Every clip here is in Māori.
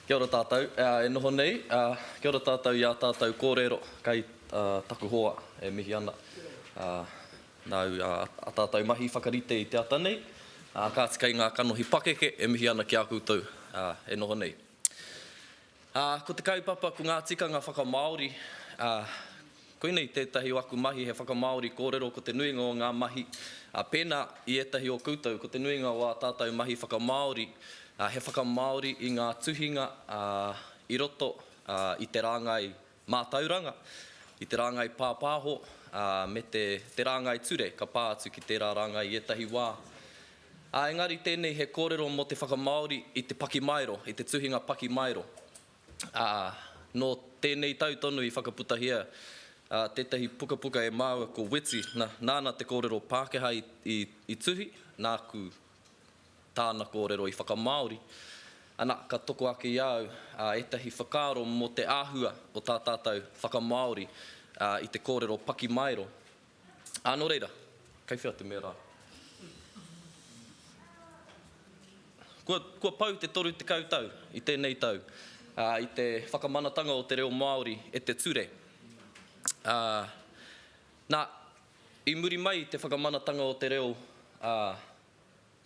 Kia ora tātou e noho nei. Kia ora tātou i ā tātou kōrero kai taku hoa e mihi ana nāu i ā tātou mahi whakarite i te ata nei, kāti kai ngā kanohi pakeke e mihi ana ki a koutou e noho nei. Ā, ko te kaupapa ko ngā tikanga whakamāori, ā, koinei tētahi o aku mahi he whakamāori kōrero ko te nuinga o ngā mahi, ā, pēnā i ētahi o koutou ko te nuinga o ā tātou mahi whakamāori, ā, he whakamāori i ngā tuhinga, ā, i roto, ā, i te rāngai Mātauranga, i te rāngai pāpāho, ā, me te, te rāngai ture ka pā atu ki tērā rāngai i ētahi wā. Ā, engari tēnei he kōrero mō te whakamāori i te pakimaero, i te tuhinga pakimaero. Ā, nō tēnei tau tonu i whakaputahia, ā, tētahi pukapuka e māua ko Weti, nā, nāna te kōrero Pākehā i, i, i tuhi, nāku Tāna kōrero i whakamāori, ana, ka toko ake i a au ētahi whakaaro mō te āhua o tā tātou whakamāori i te kōrero pakimaero. Ā, nō reira, kei whea te mea rā? Kua, kua pau te 30 tau i tēnei tau i te whakamanatanga o te reo Māori e te ture, ā, nā, I muri mai i te whakamanatanga o te reo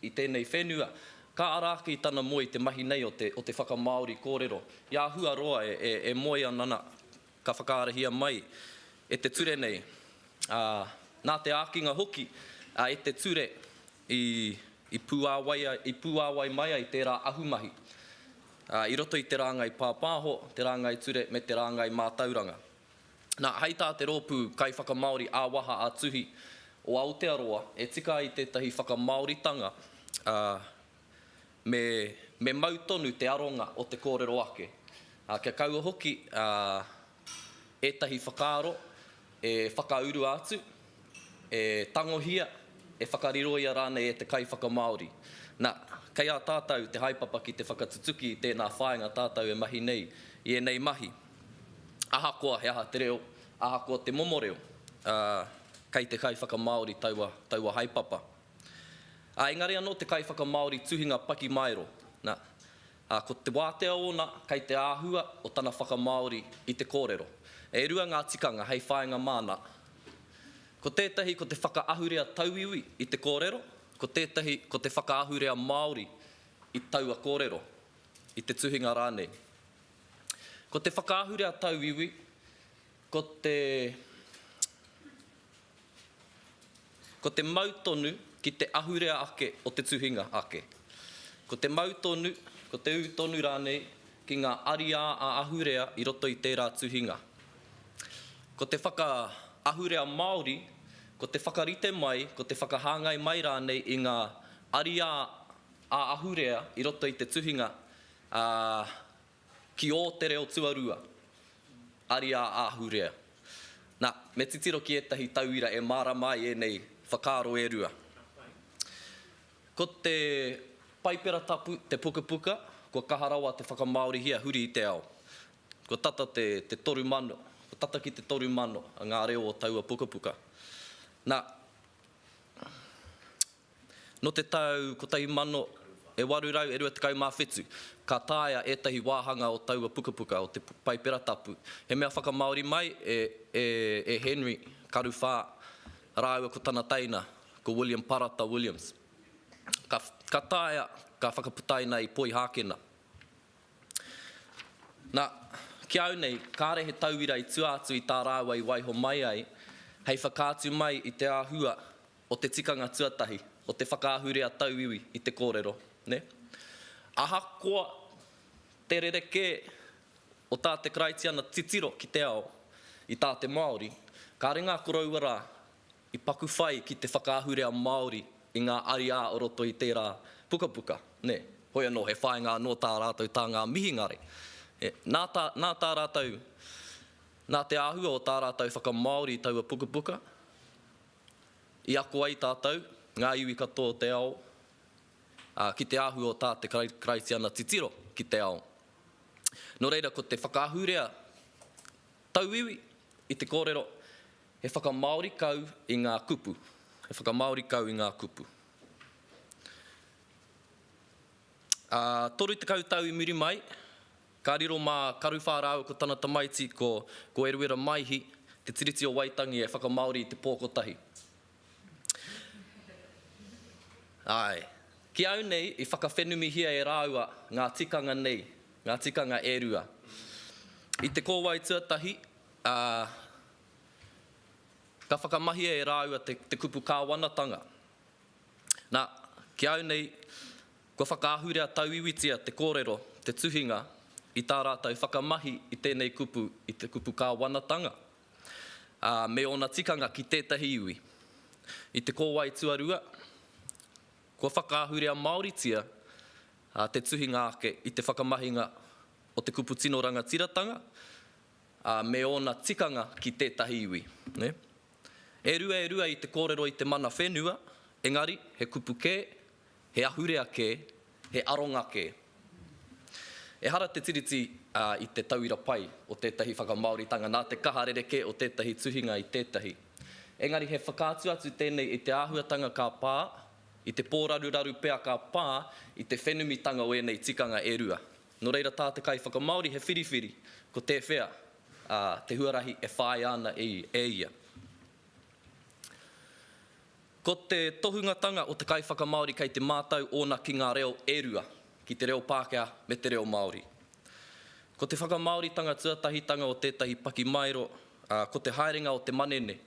i tēnei whenua, ka ara ake i tana moe i te mahi nei o te whakamāori kōrero. I āhua roa e moe ana nā, ka whakaarahia mai e te ture nei, ā, nā te ākinga hoki e te ture i pūāwai mai ai tērā ahumahi i roto i te rāngai pāpāho, te rāngai ture me te rāngai mātauranga. Nā, hei tā te rōpū kaiwhakamāori ā-waha ā-tuhi o Aotearoa, e tika ai tētahi whakamāoritanga, ā, me, me mau tonu te aronga o te kōrero ake, ā, kia kaua hoki, ā, ētahi whakaaro e whakaurua atu, e tangohia, e whakariroia rānei e te kaiwhakamāori. Nā, kei a tātou te haepapa ki te whakatutuki i tēnā whāinga tātou e mahi nei i ēnei mahi. Ahakoa he aha te reo, ahakoa te momo reo, ā, kei te kaiwhakamāori taua, taua haepapa. Ā, engari anō te kaiwhakamāori tuhinga pakimaero, nā, ā, ko te wātea ōna kei te āhua o tana whakamāori i te kōrero. E rua ngā tikanga hei whāinga māna. Ko tētahi ko te whakaahurea tauiwi i te kōrero, ko tētahi ko te whakaahurea māori i taua kōrero, i te tuhinga rānei. Ko te whakaahure a Tauiwi, ko te ko te mau tonu ki te ahurea ake o te tuhinga ake. Ko te mau tonu, ko te ū tonu rānei ki ngā ariā ā-ahurea i roto i tērā tuhinga. Ko te whakaahurea māori, ko te whakarite mai, ko te whakahāngai mai rānei i ngā ariā ā-ahurea i roto i te tuhinga Ā, ki ō te reo tuarua, ariā āhurea. Nā, me titiro ki ētahi tauira e mārama ai ēnei whakaaro e rua. Ko te Paipera Tapu te pukapuka kua kaha rawa te whakamāorihia huri i te ao. Kua tata te, te toru mano, kua tata ki te toru mano ngā reo o taua pukapuka. Nā. Nō te tau 1827, ka taea ētahi wāhanga o taua pukapuka, o te Paipera Tapu, he mea whakamāori mai e Henry Karu Whā rāua ko tana teina, ko William Parata Williams. Ka taea, ka whakaputaina i Poihākena. Nā, ki a au nei, kāre he tauira i tua atu i tā rāua i waiho mai ai, hei whakaatu mai i te āhua o te tikanga tuatahi, o te whakaahurea tauiwi i te kōrero, nē? Ahakoa te rerekē o tā te Karaitiana titiro ki te ao i tā te Māori, kāre ngā koroua rā i paku whai ki te whakaahurea Māori i ngā ariā o roto i tērā pukapuka, nē? Hoi anō, he whāinga anō tā rātou tā ngā mihingare. Nā tā, nā tā rātou, nā te āhua o tā rātou whakamāori i taua pukapuka, I ako ai tātou, ngā iwi katoa o te ao, ki te āhua o tā te Karaitiana titiro ki te ao. Nō reira, ko te whakaahurea tauiwi i te kōrero, he whakamāori kau i ngā kupu, he whakamāori kau i ngā kupu. Ā, toru tekau tau i muri mai, Ka riro mā Karuwhā rāua ko tana tamaiti ko ko Eruera Maihi te Tiriti o Waitangi e whakamāori i te pō kotahi. Āe. Ki au nei i whakawhenumihia e rāua ngā tikanga nei, ngā tikanga e rua. I te kōwae tuatahi, ā, ka whakamahia e rāua te te kupu kāwanatanga. Nā, ki au nei, Kua whakaahurea tauiwitia te kōrero, te tuhinga, i tā rātou whakamahi i tēnei kupu, i te kupu kāwanatanga, ā, me ōna tikanga ki tētahi iwi. I te kōwae tuarua, kua whakaahurea māoritia te tuhinga ake i te whakamahinga o te kupu tino rangatiratanga, ā, me ōna tikanga ki tētahi iwi. E rua e rua i te kōrero i te mana whenua, engari, he kupu kē, He ahurea kē, he aronga kē. Ehara te Tiriti i te tauira pai o tētahi whakamāoritanga nā te kaha rerekē o tētahi tuhinga i tētahi. Engari he whakaatu atu tēnei i te āhuatanga ka pā, i te pōraruraru pea ka pā i te whenumitanga o ēnei tikanga e rua. Nō reira tā te kaiwhakamāori he whiriwhiri ko tēwhea te huarahi e whāia ana e ia. Ko te tohungatanga o te kaiwhakamāori kei te mātau ōna ki ngā reo e rua, ki te reo Pākehā me te reo Māori. Ko te whakamāoritanga tuatahitanga o tētahi pakimaero, ā, ko te haerenga o te manene,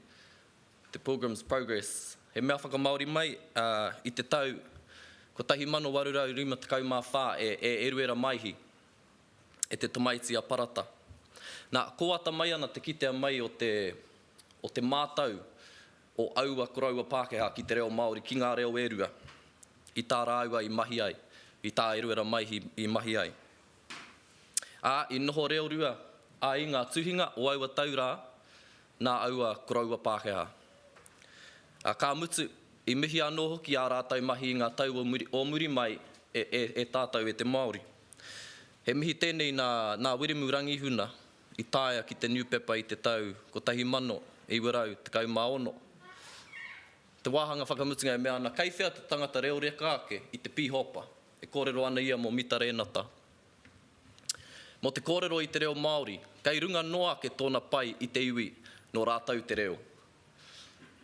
te Pilgrim's Progress, he mea whakamāori mai, ā, i te tau 1854 e e Eruera Maihi e te tamaiti a Parata. Nā, kōata mai ana te kitea mai o te, o te mātau o aua koroua Pākehā ki te reo Māori, ki ngā reo e rua i tā rāua i mahi ai, i tā Eruera Maihi i mahi ai. Ā, i noho reo rua ai ngā tuhinga o aua tau rā nā aua koroua Pākehā. Ā, ka mutu, i mihi anō hoki ā rātou mahi i ngā tau o muri mai e tātou e te Māori. He mihi tēnei nā Wiremu Rangihuna, i taea ki te niupepa i te tau 1916. Te wāhanga whakamutunga e mea ana, kei whea te tangata reo reka ake i te pīhopa, e kōrero ana ia mō Mita Rēnata. Mō te kōrero i te reo Māori, kei runga noa ake tōna pai i te iwi nō rātou te reo.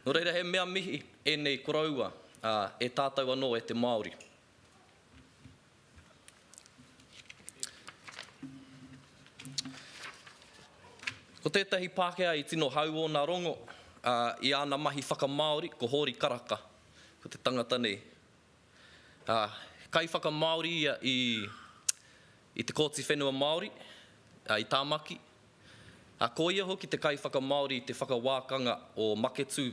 Nō reira he mea mihi ēnei koroua, ā, e tātou anō e te Māori. Ko tētahi Pākehā i tino hau ōna rongo i āna mahi whakamāori ko Hōri Karaka, ko te tangata nei. He kaiwhakamāori ia i te Kōti Whenua Māori i Tāmaki, Ā, ko ia hoki te kaiwhakamāori i te whakawākanga o Maketū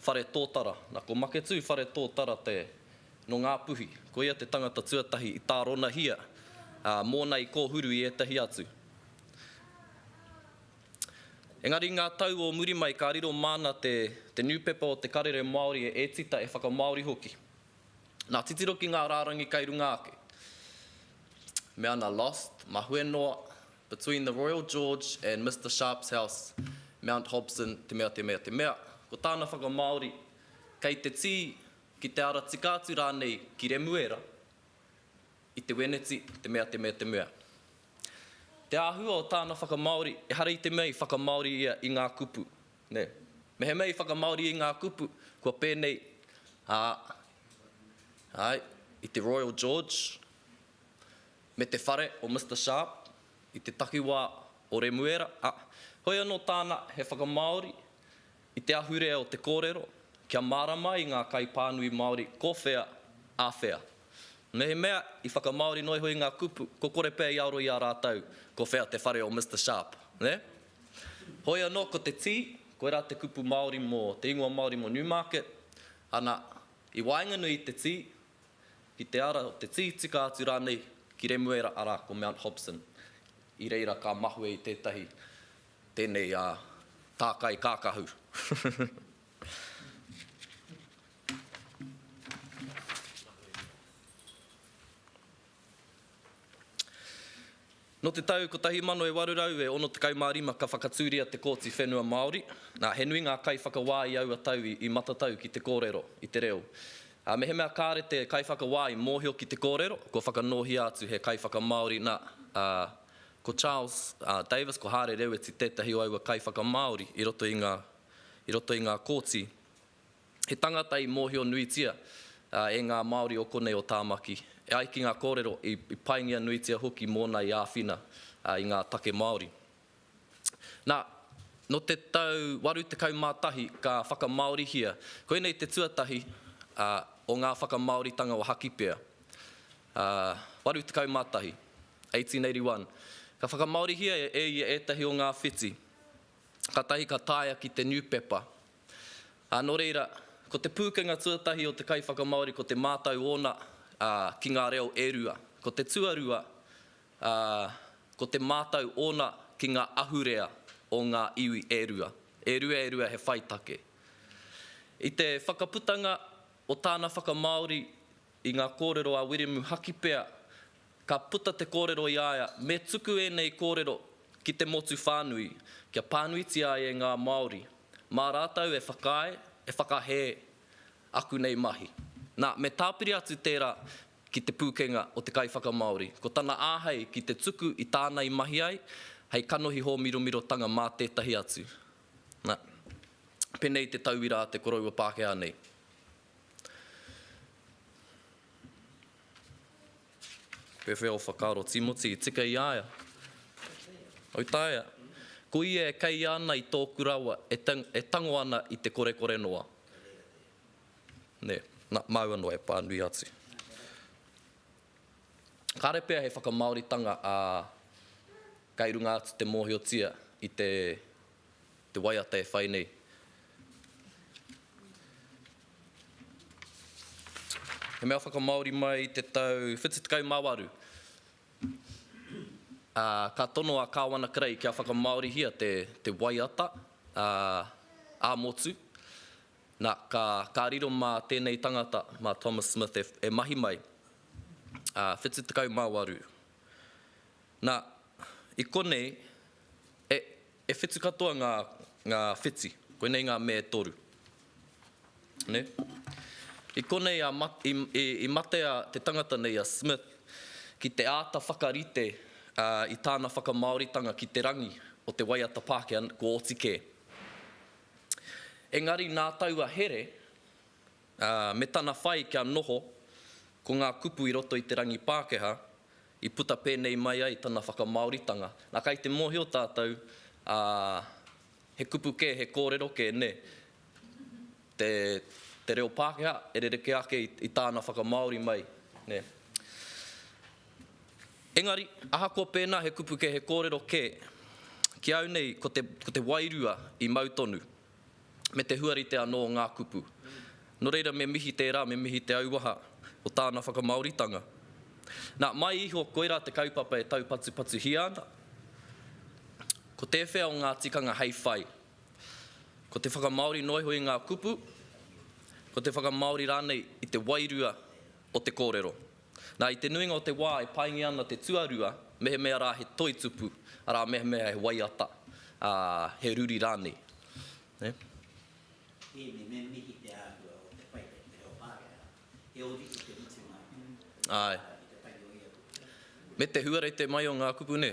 Whare Tōtara. Nā, ko Maketū Whare Tōtara te, nō Ngā Puhi, ko ia te tangata tuatahi i tāronahia, ā, mōna i kōhuru i ētahi atu. Engari i ngā tau o muri mai ka riro māna te, te niupepa o Te Karere Māori e ētita e whakamāori hoki. Nā, titiro ki ngā rārangi kei runga ake. Me ana lost, mahue noa. Between the Royal George and Mister Sharp's house, Mount Hobson, te mea, te mea, te mea, ko tāna whakamāori, kei te tī, ki te ara tika atu rānei ki Remuera, i te wēneti, te mea, te mea, te mea. Te āhua o tāna whakamāori, ehara i te mea i whakamāori ia i ngā kupu, nē. Mehemea i whakamāori i ngā kupu, kua pēnei, ā, āe, i te Royal George, me te whare o Mister Sharp i te takiwā o Remuera, ā, hoi anō tāna he whakamāori i te ahurea o te kōrero kia mārama ai ngā kaipānui Māori ko whea, a whea. Mehemea i whakamāori noa iho i ngā kupu, ko kore pea i aro i a rātou ko whea te whare o Mister Sharp, nē? Hoi anō ko te tī, koirā te kupu Māori mō te ingoa Māori mō Newmarket, ana, i waenganui i te tī, ki te ara o te tītika atu rānei ki Remuera, arā, ko Mount Hobson. I reira ka mahue i tētahi tēnei tākai kākahu. Nō te tau 1865 ka whakatūria te Kōti Whenua Māori, ā, he nui ngā kaiwhakawā i aua tau i matatau ki te kōrero i te reo. Ā, mehemea kāre te kaiwhakawā i mōhio ki te kōrero, kua whakanōhia atu he kaiwhakamāori nā, ā, ko Charles Davis, ko Hāre Reweti tētahi o aua kaiwhakamāori i roto i ngā, i roto i ngā kōti. He tangata i mōhio nuitia e ngā Māori o konei o Tāmaki, e ai ki ngā kōrero, i paingia nuitia hoki mōna i āwhina i ngā take Māori. Nā, nō te tau 81 ka whakamāorihia, koinei te tuatahi o ngā whakamāoritanga o Hakipea. 81, 1881, ka whakamāorihia e ia ētahi o ngā whiti, kātahi ka taea ki te niupepa Ā, nō reira, ko te pūkenga tuatahi o te kaiwhakamāori ko te mātau ōna, ā, ki ngā reo e rua. Ko te tuarua, ā, ko te mātau ōna ki ngā ahurea o ngā iwi e rua, e rua e rua he whai take. I te whakaputanga o tāna whakamāori i ngā kōrero a Wiremu Hakipea, Ka puta te kōrero i a ia, me tuku ēnei kōrero ki te motu whānui, kia pānuitia ai e ngā Māori, mā rātou e whakaae, e whakahē aku nei mahi. Nā, me tāpiri atu tērā ki te pūkenga o te kaiwhakamāori, ko tana āhei ki te tuku i tāna i mahi ai, hei kanohi hōmiromirotanga mā tētahi atu. Nā, pēnei te tauira a te koroua Pākehā nei. Pepe o Whakaaro Timoti i tika i a ia. Au taea. Ko ia e kei ana i tōku rawa, e tang, e tango ana i te korekore noa. Nē, nā, māua noa e pānui atu. Kāre pea he whakamāoritanga ā, kei runga atu te mōhiotia i te te waiata e whai nei. He mea whakamāori mai i te tau 78, ā, ka tono a Kāwana Kerei kia whakamāorihia te, te waiata, ā, ā-motu. Nā, ka, ka riro mā tēnei tangata, mā Thomas Smith e, e mahi mai, ā, 78. Nā, i konei, e, e whitu katoa ngā, ngā whiti. Koinei ngā me e toru. Nē? I konei a mat, i, i, i matea te tangata nei a Smith ki te āta whakarite, ā, i tāna whakamāoritanga ki te rangi o te waiata Pākehā, kua oti kē. Engari nā taua here, ā, me tana whai kia noho, ko ngā kupu i roto i te rangi Pākehā, I puta pēnei mai ai tana whakamāoritanga. Nā, kai te mōhio tātou, ā, he kupu kē, he kōrero kē, nē, te, te reo Pākehā e rerekē ake i, i tāna whakamāori mai, nē. Engari, ahakoa pēnā he kupu kē, he kōrero kē, ki au nei ko te, ko te wairua i mau tonu. me te huarite anō o ngā kupu. Nō reira me mihi tērā, me mihi te auaha o tāna whakamāoritanga. Nā, mai iho koirā te kaupapa e taupatupatuhia ana. Ko tēwhea o ngā tikanga hei whai? Ko te whakamāori noa iho i ngā kupu, ko te whakamāori rānei i te wairua o te kōrero. Nā, i te nuinga o te wā e paingia ana te tuarua, mehemea rā he toi tupu, arā, mehemea he waiata, ā, he ruri rānei. Nē? Tēnei, me mihi te āhua o te whai kei te reo Pākehā. He ōrite te mutunga i te tangi o ia kupu. Me te huarete mai o ngā kupu, nē?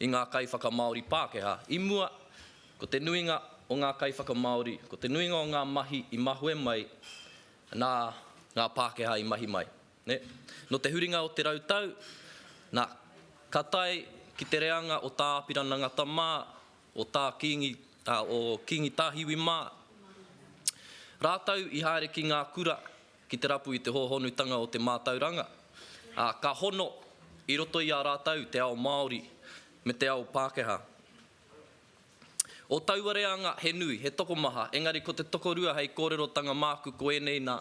i ngā kaiwhakamāori Pākehā. I mua, ko te nuinga o ngā kaiwhakamāori, ko te nuinga o ngā mahi i mahue mai nā ngā Pākehā i mahi mai. Nō te huringa o te rau tau, nā, ka tae ki te reanga o Tā Apirana Ngata mā, o Tā Kīngi, ā, o Kīngi Tāhiwi mā, rātou i haere ki ngā kura ki te rapu i te hōhonutanga o te mātauranga, ā, ka hono i roto i a rātou te ao Māori me te ao Pākehā. O taua reanga he nui, he tokomaha, engari ko te tokorua hei kōrerotanga māku ko ēnei nā,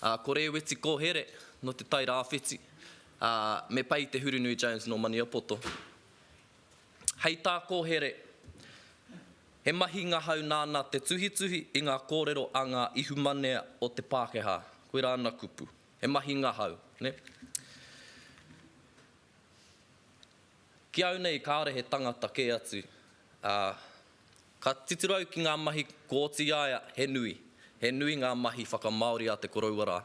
ā, ko Rēweti Kōhere nō Te Tai Rāwhiti, ā, me Pei Te Hurunui Jones nō Maniapoto. Hei tā Kohere, he mahi ngahau nāna te tuhituhi i ngā kōrero a ngā ihumanea o te Pākehā. Koirā ana kupu, he mahi ngahau. Ki au nei kāore he tangata kē atu, ā, ka titiro au ki ngā mahi ko Otiaia, he nui, he nui ngā mahi whakamāori a te koroua rā.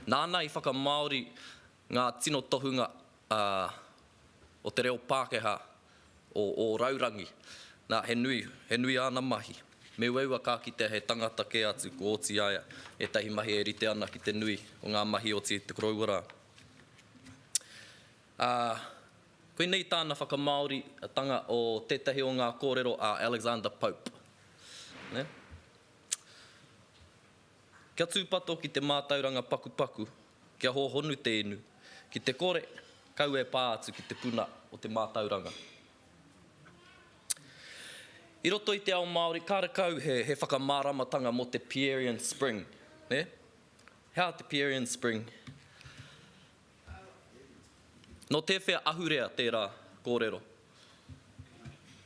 Nāna i whakamāori Ngā tino tohunga o te reo Pākehā o Ōraurangi. Nā, he nui, he nui āna mahi. Me uaua ka kitea he tangata kē atu ko Otiaea, ētahi mahi e rite ana ki te nui o ngā mahi oti i te koroua rā. Ā, koinei tāna whakamāoritanga o tētahi o ngā kōrero a Alexander Pope. Kia tūpato ki te mātauranga pakupaku, kia hōhonu te inu. Ki te kore, kau e pā atu ki te puna o te mātauranga. I roto i te ao Māori, kārekau he, he whakamāramatanga mō te Pierian Spring, nē? He aha te Pierian Spring? Nō tēwhea ahurea tērā kōrero?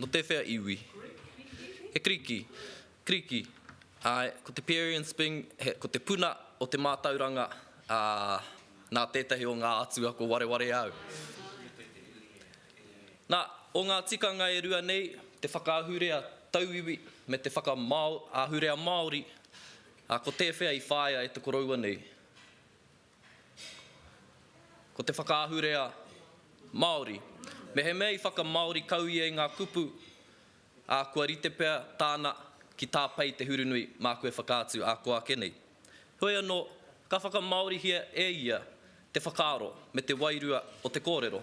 Nō tēwhea iwi? He Kiriki, Kiriki, āe, ko te Pierian Spring, he, ko te puna o te mātauranga, ā, nā tētahi o ngā atua ko Warewareau. Nā, o ngā tikanga e rua nei, te whakaahurea tauiwi me te whakamāo, ahurea Māori, ā, ko tēwhea i whāia e te koroua nei? Ko te whakaahurea Māori. Mehemea i whakamāori kau ia i ngā kupu, ā, kua rite pea tāna ki tāpei te hurunui māku e whakaatu ā kō ake nei. Heoi anō, ka whakamāorihia e ia te whakaaro me te wairua o te kōrero.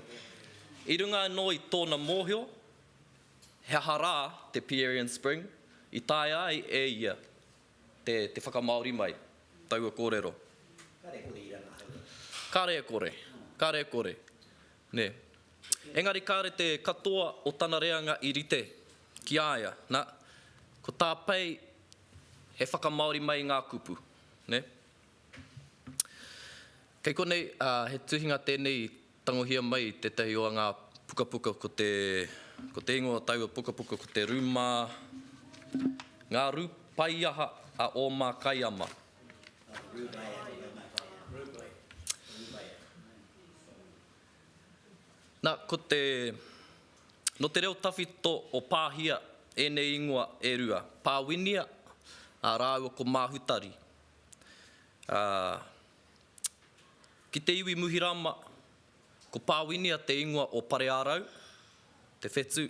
I runga anō i tōna mōhio he aha rā te Pierian Spring i taea ai e ia Te whakamāori mai taua kōrero. Kare kore i rangahaua. Kare kore, kare kore. Nē. Engari kāre te katoa o tana reanga i rite ki a ia. Nā, ko tā Pei he whakamāori mai i ngā kupu. Nē. Kei konei, ā, he tuhinga tēnei Tangohia mai tētahi o ngā pukapuka ko te Ko te ingoa o taua pukapuka ko te Rūmā Ngā rū paiaha a ō mā kaiama. Nā, ko te Nō te reo tawhito o Pāhia ēnei ingoa e rua, Pāwinia rāua ko Māhutari. Ki te iwi Muhirama, ko Pāwinia te ingoa o Pareārau, te whetū,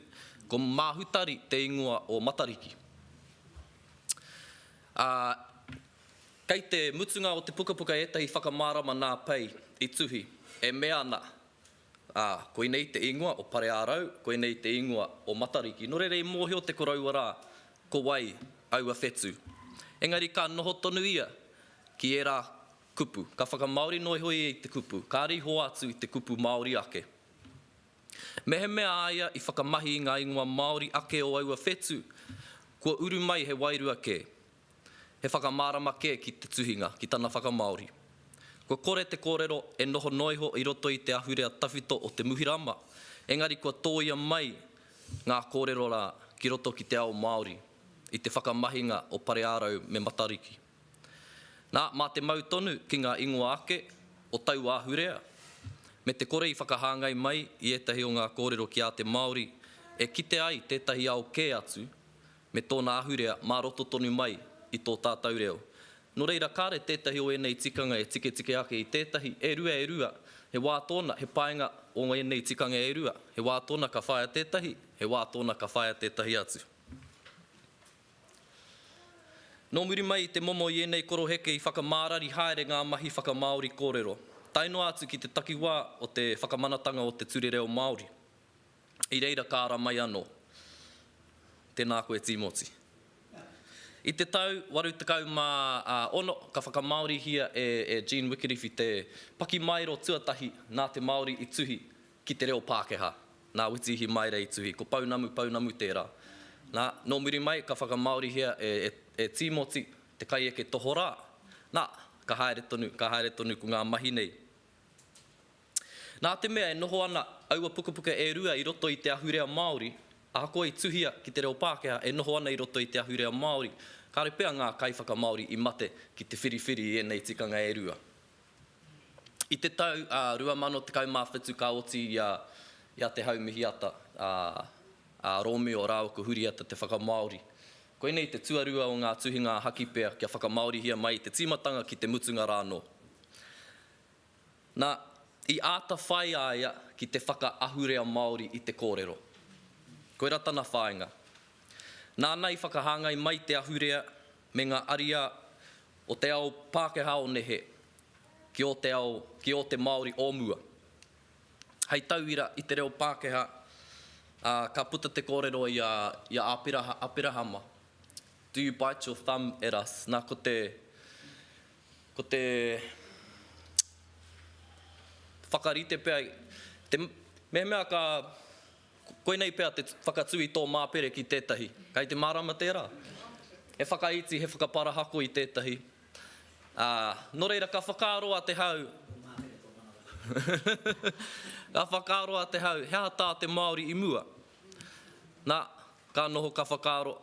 ko Māhutari te ingoa o Matariki. Ā, kei te mutunga o te pukapuka ētahi whakamārama nā Pei i tuhi, e mea ana, Ā, koinei te ingoa o Pareārau, koinei te ingoa o Matariki. Nō reira i mōhio te koroua rā, ko wai aua whetū. Engari ka noho tonu ia ki ērā kupu. Ka whakamāori noa iho ia i te kupu, kāre i hoa atu i te kupu Māori ake. Mehemea a ia i whakamahi i ngā ingoa Māori ake o aua whetū, kua uru mai he wairua kē. He whakamārama kē ki te tuhinga, ki tana whakamāori. Kua kore te kōrero e noho noa iho i roto i te ahurea tawhito o te Muhirama, engari kua tōia mai ngā kōrero rā ki roto ki te ao Māori i te whakamahinga o Pareārau me Matariki. Nā, mā te mau tonu ki ngā ingoa ake o taua ahurea, me te kore i whakahāngai mai i ētahi o ngā kōrero ki a te Māori e kite ai tētahi ao kē atu, me tōna ahurea mā roto tonu mai i tō tātou reo. Nō reira, kāre tētahi o ēnei tikanga e tiketike ake i tētahi, e rua, e rua, he wā tōna, he painga o ēnei tikanga e rua, he wā tōna ka whaia tētahi, he wā tōna ka whaia tētahi atu. Nō muri mai i te momo i ēnei koroheke i whakamārari haere ngā mahi whakamāori kōrero, tae noa atu ki te takiwā o te whakamanatanga o te Ture Reo Māori. I reira ka ara mai anō. Tēnā koe Tīmoti. I te tau 86 ka whakamāorihia e Jean Wikiriwhi te pakimaero tuatahi nā te Māori i tuhi ki te reo Pākehā, nā Witiihi Maere i tuhi, ko Pounamu Pounamu tērā. Nā, nō muri mai ka whakamāorihia e Tīmoti te kaieke tohorā, nā, ka haere tonu, ka haere tonu ko ngā mahi nei. Nā te mea e noho ana aua pukapuka e rua i roto i te ahurea Māori, ahakoa i tuhia ki te reo Pākehā e noho ana i roto i te ahurea Māori, kāore pea ngā kaiwhakamāori i mate ki te whiriwhiri i ēnei tikanga e rua. I te tau 2017 ka oti i a Te Hau Mihiata, a Rōmio rāua ko Huriata te whakamāori. Koinei te tuarua o ngā tuhinga a Hakipea kia whakamāorihia mai i te tīmatanga ki te mutunga rā anō. Na, i āta whai a ia ki te whakaahurea Māori i te kōrero. Koira tana whāinga. Nāna i whakahāngai mai te ahurea me ngā ariā o te ao Pākehā o nehe ki ō te ao, ki ō te Māori o mua. Hei tauira i te reo Pākehā, ā, ka puta te kōrero i a, i a Āpiraha, Aperahama, Do you bite your thumb at us? Nā, ko te, Ko te whakarite pea, te mehemea ka, koinei pea te whakatū i tō māpere ki tētahi, kei te mārama tērā? He whakaiti, he whakaparahako i tētahi, ā, nō reira ka whakaaro a Te Hau, ka whakaaro a Te Hau, he aha tā te Māori i mua? Nā, ka noho ka whakaaro,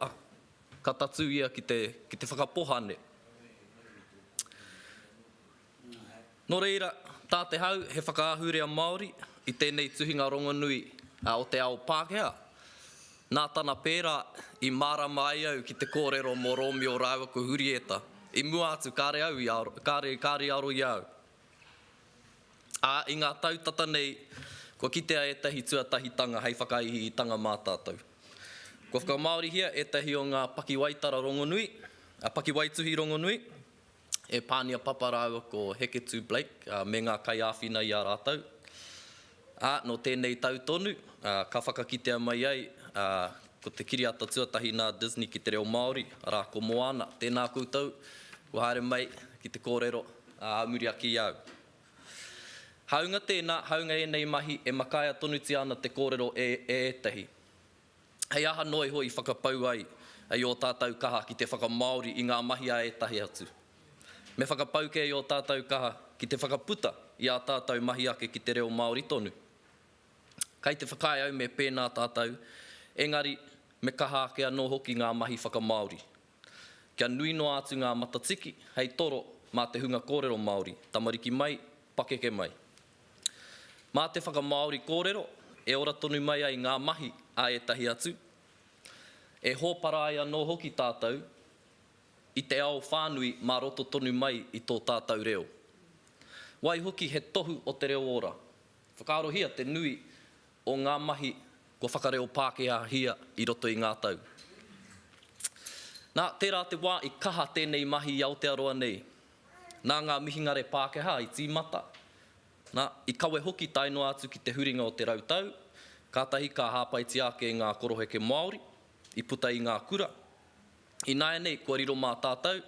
Ka tatū ia ki te, ki te whakapohane. Nō reira, tā te hau he whakaahurea Māori i tēnei tuhinga rongonui o te ao Pākehā, nā tana pērā i mārama ai au ki te kōrero mō Rōmio rāua ko Hurieta, i mua atu kāre au i aro, kāre, kāre i aro i a au. Ā, i ngā tau tata nei, kua kitea ētahi tuatahitanga hei whakaihiitanga mā tātou. Kua whakamāorihia ētahi o ngā pakiwaitara rongonui, ā, pakiwaituhi rongonui, e Pānia Papa rāua ko Heketū Blake me ngā kaiāwhina i a rātou. Ā, nō tēnei tau tonu, ā, ka whakakitea mai ai, ā, ko te kiriata tuatahi nā Disney ki te reo Māori, arā, ko Moana. Tēnā koutou, kua haere mai ki te kōrero, ā, muri ake i a au. Hāunga tēnā, hāunga ēnei mahi, e makaia tonutia ana te kōrero e ētahi. Hei aha noa iho i whakapau ai i ō tātou kaha ki te whakamāori i ngā mahi a ētahi atu? Me whakapau kē i ō tātou kaha ki te whakaputa i ā tātou mahi ake ki te reo Māori tonu? Kei te whakaae au me pēnā tātou, engari, me kaha ake anō hoki ngā mahi whakamāori. Kia nui noa atu ngā matatiki hei toro mā te hunga kōrero Māori, tamariki mai, pakeke mai. Mā te whakamāori kōrero e ora tonu mai ai ngā mahi a ētahi atu, e hōpara ai anō hoki tātou i te ao whānui mā roto tonu mai i tō tātou reo. Waihoki he tohu o te reo ora. Whakaarohia te nui o ngā mahi kua whakareo Pākehāhia i roto i ngā tau. Nā, tērā te wā i kaha tēnei mahi i Aotearoa nei, Nā ngā mihingare Pākehā i tīmata, nā, i kawe hoki tae noa atu ki te huringa o te rau tau, kātahi ka hāpaitia ake e ngā koroheke Māori, i puta i ngā kura. Ināianei, kua riro mā tātou,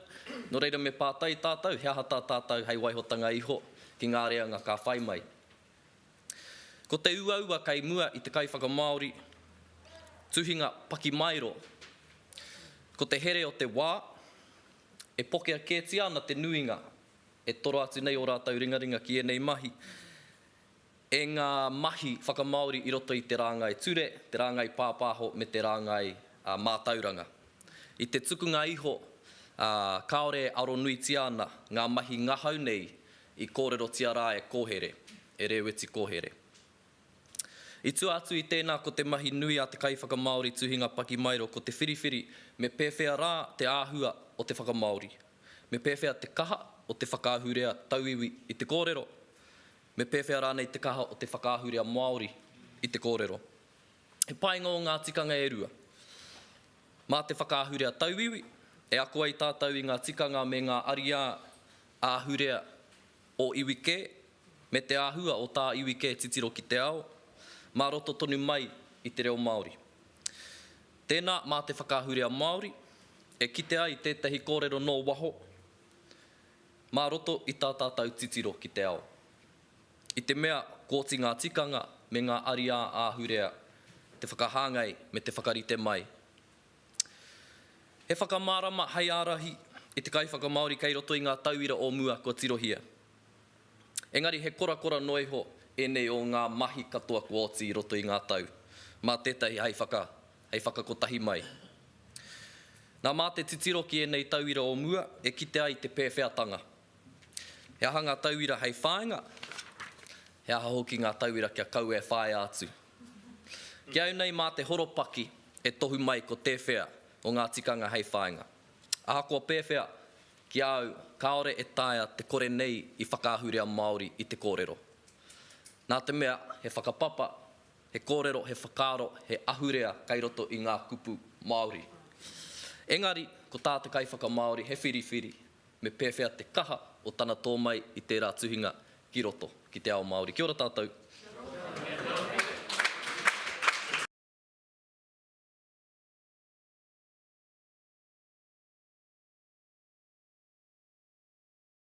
nō reira me pātai tātou he aha tā tātou hei waihotanga iho ki ngā reanga ka whai mai. Ko te uaua kei mua i te kaiwhakamāori tuhinga pakimaero, ko te here o te wā, E pokea kētia ana te nuinga, e toro atu nei ō rātou ringaringa ki ēnei mahi, e ngā mahi whakamāori i roto i te rāngai ture, te rāngai pāpāho me te rāngai mātauranga. I te tukunga iho, kāore e aro nuitia ana ngā mahi ngahau nei i kōrerotia rā e Kōhere, e Rēweti Kōhere. I tua atu i tēnā ko te mahi nui a te kaiwhakamāori tuhinga pakimaero ko te whiriwhiri me pēwhea rā te āhua o te whakamāori, me pēwhea te kaha o te whakaahurea tauiwi i te kōrero, me pēwhea rānei te kaha o te whakaahurea Māori i te kōrero. He painga ō ngā tikanga e rua. Mā te whakaahurea tauiwi e ako ai tātou i ngā tikanga me ngā ariā āhurea o iwi kē, me te āhua o tā iwi kē titiro ki te ao, mā roto tonu mai i te reo Māori. Tēnā mā te whakaahurea Māori e kite ai tētahi kōrero nō waho mā roto i tā tātou titiro ki te ao. I te mea kōti ngā tikanga me ngā ariā āhurea te whakahāngai me te whakarite mai He whakamārama hei ārahi i te kaiwhakamāori kei roto i ngā tauira o mua kua tirohia. Engari he korakora noa iho ēnei o ngā mahi katoa kua oti i roto i ngā tau, mā tētahi hei whaka, hei whakakotahi mai. Nā, mā te titiro ki ēnei tauira o mua e kite ai te pēwheatanga. He aha ngā tauira hei whāinga, he aha hoki ngā tauira kia kaua e whāia atu. Ki au nei mā te horopaki e tohu mai ko tēwhea o ngā tikanga hei whāinga. Ahakoa pēwhea, ki a au kāore e taea te kore nei i whakaahurea Māori i te kōrero. Nā te mea he whakapapa, he kōrero, he whakaaro, he ahurea kei roto i ngā kupu Māori. Engari, ko tā te kaiwhakamāori he whiriwhiri, Me pēwhea te kaha o tana tō mai i tērā tuhinga ki roto, ki te ao Māori. Kia ora tātou.